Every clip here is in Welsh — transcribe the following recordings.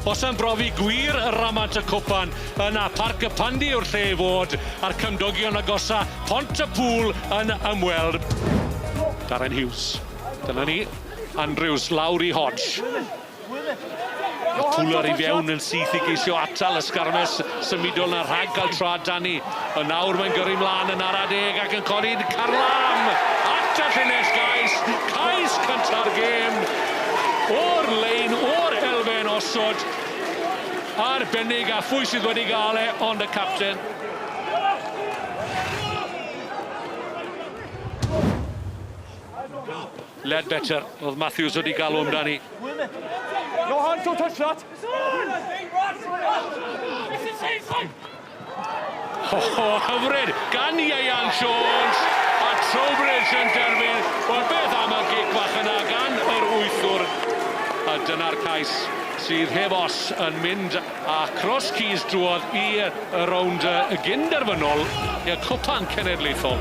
Os am brofi gwir y Ramant y Cwpan, yna Parc y Pandy yw'r lle i fod, a'r cymdogion agosa, Pont y Pŵl, yn ymweld. Darren Hughes. Dyna ni. Andrews, Lowry, Hodge. Mae Tuller i fewn yn syth i geisio atal y sgarmes symudol na rhag cael tra Danny. Yn nawr mae'n gyrru mlaen yn ara deg ac yn codi carlam at y llinell gais. Cais cynta'r gêm o'r lein o'r elfen osod. Arbennig a phwy sydd wedi gael e ond y capten. Ledbetter oedd Matthews wedi galw amdani. Johan, don't touch that! O, hyfryd gan Ieuan Jones a Trowbridge yn derfyn. Wel, beth am y gic bach yna gan yr wythwr? A dyna'r cais sydd heb os yn mynd A Cross Keys drwodd i y rownd gyn-derfynol i'r Cwpan Cenedlaethol.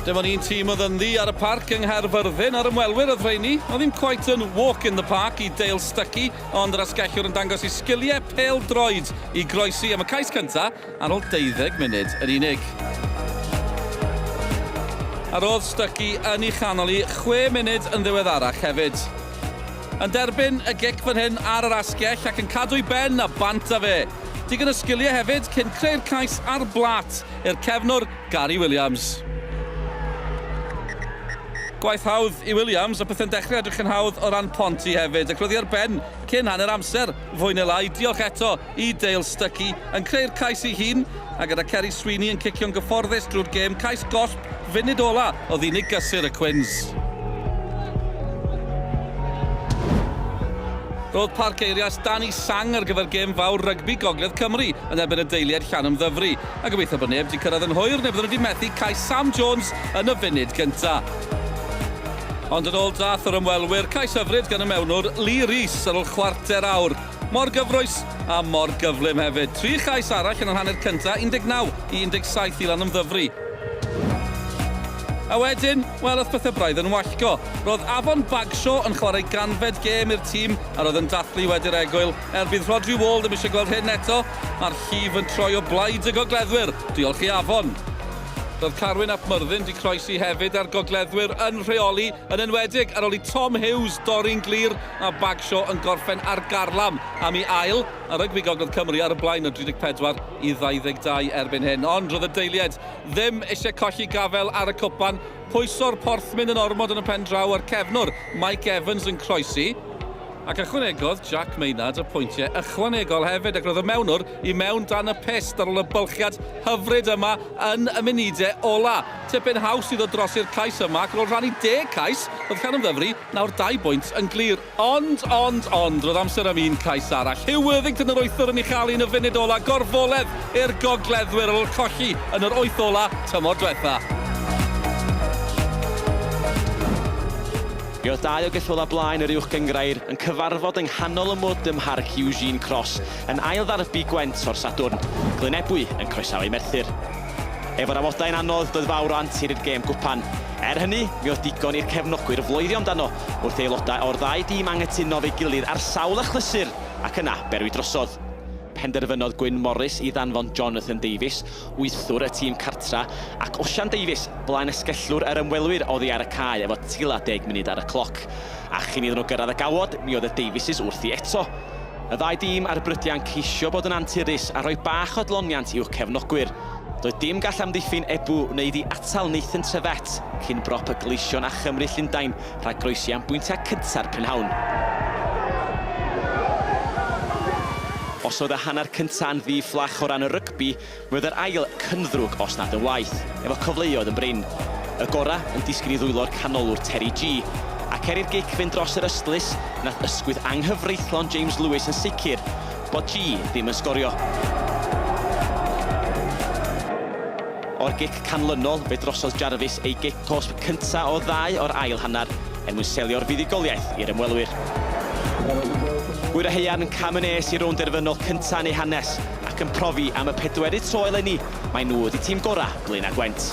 Dim ond un tîm oedd ynddi ar y parc yng Nghaerfyrddin a'r ymwelwyr oedd rheini. Oedd ddim cweit yn walk in the park i Dale Stuckey ond yr asgellwr yn dangos ei sgiliau pêl-droed i groesi am y cais cyntaf Ar ol deuddeg munud yn unig. A rodd Stuckey yn i chanol i chwe munud yn ddiweddarach hefyd. Yn derbyn y gic fan hyn ar yr asgell ac yn cadw i ben a bant a fe. Digon o sgilie hefyd cyn creu'r cais ar blât i'r cefnwr Gary Williams. Gwaith hawdd i Williams a pethe'n dechrau edrych yn hawdd o ran Ponty hefyd ac roedd hi ar ben cyn hanner amser fwy neu lai. Diolch eto Y Dale Stuckey yn creu'r cais ei hun, a gyda Ceri Sweeney yn cicio'n gyfforddus drwy'r gêm cais gosb funud ola oedd unig gysur y Quins. Roedd Parc Eirias dan i sang ar gyfer gêm fawr rygbi Gogledd Cymru yn erbyn y deiliaid Llanymddyfri, a gobeithio bod neb 'di cyrraedd yn hwyr neu bydden nhw 'di methu cais Sam Jones yn y funud gynta. Ond yn ôl drath yr ymwelwyr, cais hyfryd gan y mewnwr Lee Rees ar ôl chwarter awr. Mor gyffrous, a mor gyflym hefyd. Tri chais arall yn yr hanner cyntaf, 19 i 17 i Lanymddyfri. A wedyn, wel, ath pethau braidd yn wallgo. Roedd Afon Bagshaw yn chwarae ganfed gêm i'r tîm a roedd yn dathlu wedi'r egwyl. Er bydd Rhodri Wall ddim eisiau gweld hyn eto, mae'r llif yn troi o blaid y gogleddwyr. Diolch i Afon. Roedd Carwyn ap Myrddin 'di croesi hefyd a'r gogleddwyr yn rheoli, yn enwedig ar ôl i Tom Hughes dorri'n glir Mae Bagshaw yn gorffen ar garlam am ei ail a rygbi Gogledd Cymru ar y blaen o 34 i 22 erbyn hyn. Ond roedd y deiliaid ddim eisiau colli gafael ar y cwpan, pwyso'r porthmyn yn ormod yn y pen draw a'r cefnwr Mike Evans yn croesi, ac ychwanegodd Jack Maynard y pwyntiau ychwanegol hefyd ac roedd y mewnwr i mewn dan y pyst ar ôl y bylchiad hyfryd yma yn y munudau ola'. Tipyn haws i ddod drosi'r cais yma ac ar ôl rhannu deg cais, roedd Llanymddyfri Nawr dau bwynt yn glir. Ond, ond, ond, roedd amser am un cais arall. Huw Worthington yr wythwr yn ei chael hi yn y funud ola, gorfoledd i'r gogleddwyr ar ôl colli yn yr wyth ola tymor dwetha. Mi oedd dau o geffylau blaen yr Uwch Gynghrair yn cyfarfod yng nghanol y mwd ym Mharc Eugene Cross yn ail ddarbi Gwent o'r Sadwrn, Glyn Ebwy yn croesawu Merthyr. Efo'r amodau'n anodd, doedd fawr o antur i'r gêm gwpan. Er hynny, mi oedd digon i'r cefnogwyr floeddio amdano wrth i aelodau o'r ddau dîm anghytuno efo'i gilydd ar sawl achlysur ac yna berwi drosodd. Penderfynodd Gwyn Morris i ddanfon Jonathan Davies, wythwr y tîm cartra, ac Osian Davies, blaenesgellwr yr ymwelwyr, oddi ar y cae efo tua deg munud ar y cloc. A chyn iddyn nhw gyrraedd y gawod, mi oedd y Davies' wrthi eto. Y ddau dîm ar Brydian ceisio bod yn anturus a rhoi bach o dloniant i'w cefnogwyr. Doedd dim gall amddiffyn Ebou wneud i atal Nathan Tevet cyn brop y Gleision a Chymru Llundain rhag groesi am bwyntiau cynta'r prynhawn. Os oedd y hanner cyntaf yn ddi-fflach o ran y rygbi, Mi oedd yr ail cyn ddrwg os nad yn waeth, efo cyfleoedd yn brin. Y gora yn disgyn i ddwylo'r canolwr Terry Gee, ac er i'r gic fynd dros yr ystlys, nath ysgwydd anghyfreithlon James Lewis yn sicr bod Gee ddim yn sgorio. O'r gic canlynol, fe drosodd Jarvis ei gic cosb cynta' o ddau o'r ail hanner er mwyn selio'r fuddugoliaeth i'r ymwelwyr. Gŵyr a haearn, cam yn nes i rownd derfynol cynta' yn eu hanes. Ac yn profi am y pedwerydd tro eleni, mae nhw wedi tîm gorau Blaenau Gwent.